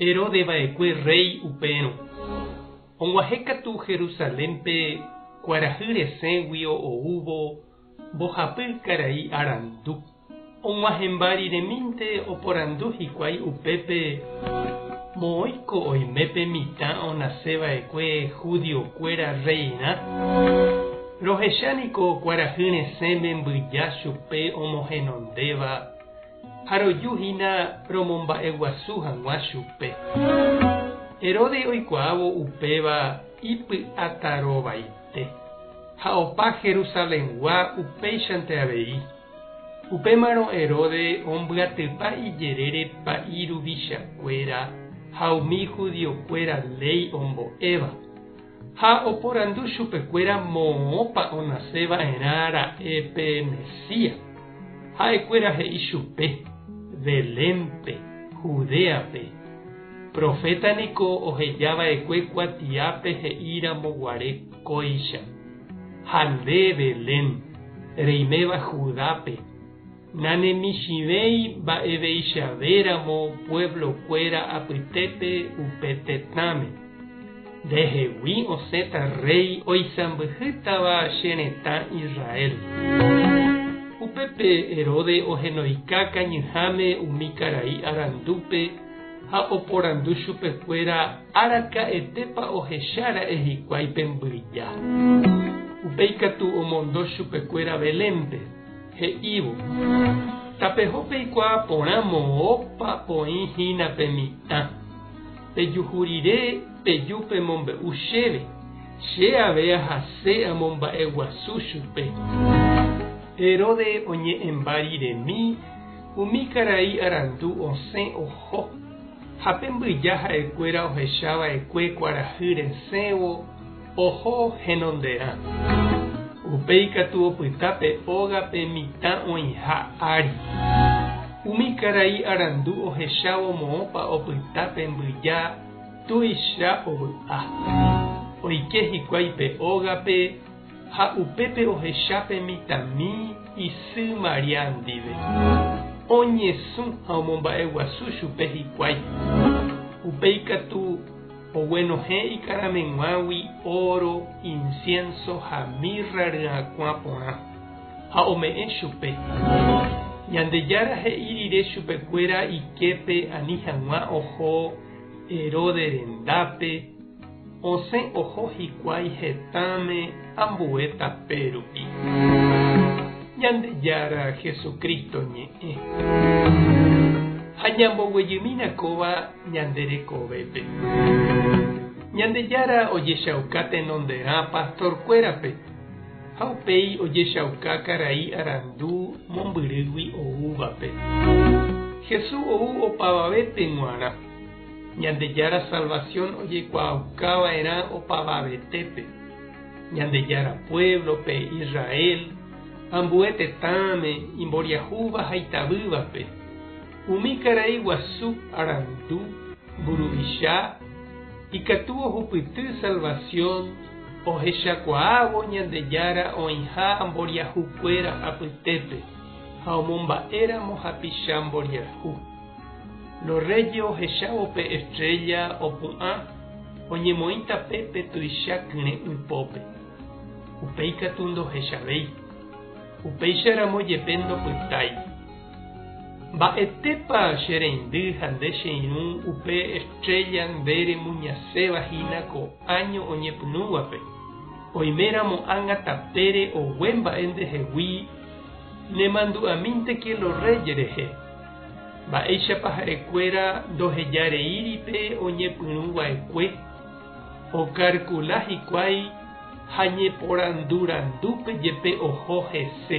Heróde va'ekue rréi upérõ, oguahẽ katu Jerusalénpe kuarahy resẽgui oúvo mbohapy karai arandu. Og̃uahẽmba riremínte oporandu hikuái upépe, Moõiko oime pe mitã onase va'ekue judiokuéra rreirã? Rohecha niko kuarahy resẽme mbyja chupe omohenondéva. Ha roju hína romomba'eguasu hag̃ua chupe. Herodes oikuaávo upéva ipy'atarovaite, ha opa Jerusalengua upéichante avei. Upémarõ Herodes ombyatypa ijerére pa'i ruvichakuéra ha umi judiokuéra léi ombo'éva. Ha oporandu chupekuéra moõpa onase va'erã ra'e pe Mesías. Ha'ekuéra he'i chupe, Belénpe, Judéape. Proféta niko oheja va'ekue kuatiápe he'íramo guare kóicha, Ha nde, Belén, reiméva Judápe, Nanemichĩvéi mba'eveichavéramo pueblo-kuéra apytépe upe tetãme. Ndehegui osẽta rréi oisãmbyhýtava che retã Israel. Upépe Herode ohenoika kañyháme umi karai arandúpe ha oporandu chupekuéra araka'etépa ohecha ra'e hikuái pe mbyja. Upéi katu omondo chupekuéra Belénpe. he'ívo, Tapeho peikuaa porã moõpa oĩ hína pe mitã. Pejuhu rire peju pemombe'u chéve, che avei ahase amomba'e guasu chupe. Heróde oñe'ẽmba riremi umi karai arandu osẽ oho, ha pe mbyja ha'ekuéra ohechava'ekue kuarahy resẽvo, Oho henonderã. Upe ikatu opyta pe óga pe mitã oĩha ári. Umi karai arandu ohechávo moõpa opyta pe mbyja tuicha ovy'a. Oike hikuái pe ógape ha upépe ohecha pe mitãmi isy María ndive. Oñesũ ha omomba'eguasu chupe hikuái. Upe ikatu. Oguenohẽ ikarameguãgui óro, insiénso ha mirra ryakuã porã, ha ome'ẽ chupe. Ñandejára he'i rire chupekuéra iképe ani hag̃ua oho Heróde rendápe, osẽ oho hikuái hetãme ambue tape rupi. Ñandejára Jesucristo ñe'ẽ. Ha ñamboguejymína kóva. ñande rekovépe. Ñandejára ojechauka tenonderã pastorkuérape, ha upéi ojechauka karai arandu mombyrýgui oúvape. Jesús ou opavavépe g̃uarã, Ñandejára salvasión ojekuaaukava'erã opavavetépe, Ñandejára puévlope, Israel, ambue tetãme, imboriahúva ha itavývape. Umi karai guasu arandu mburuvicha ikatu ohupyty salvasión ohechakuaávo Ñandejára oĩha mboriahukuéra apytépe ha omomba'éramo hapicha mboriahu. Los Reyes ohechávo pe estrélla opu'ã oñemoĩ tapépe tuicha kyre'ỹ pópe. Upéi katu ndohechavéi. Upéicharamo jepe ndopytái. Mba'etépa che reindy ha nde che irũ upe estrélla nde remuñaséva hína ko áño oñepyrũvape, oime ramo ág̃a tapére ogue mba'e ndehegui nemandu'amínte kiélo rréi rehe. Mba'éichapa ha'ekuéra ndoheja reíri pe oñepyrũ va'ekue? Okarkula hikuái ha ñeporandu randúpe jepe oho hese.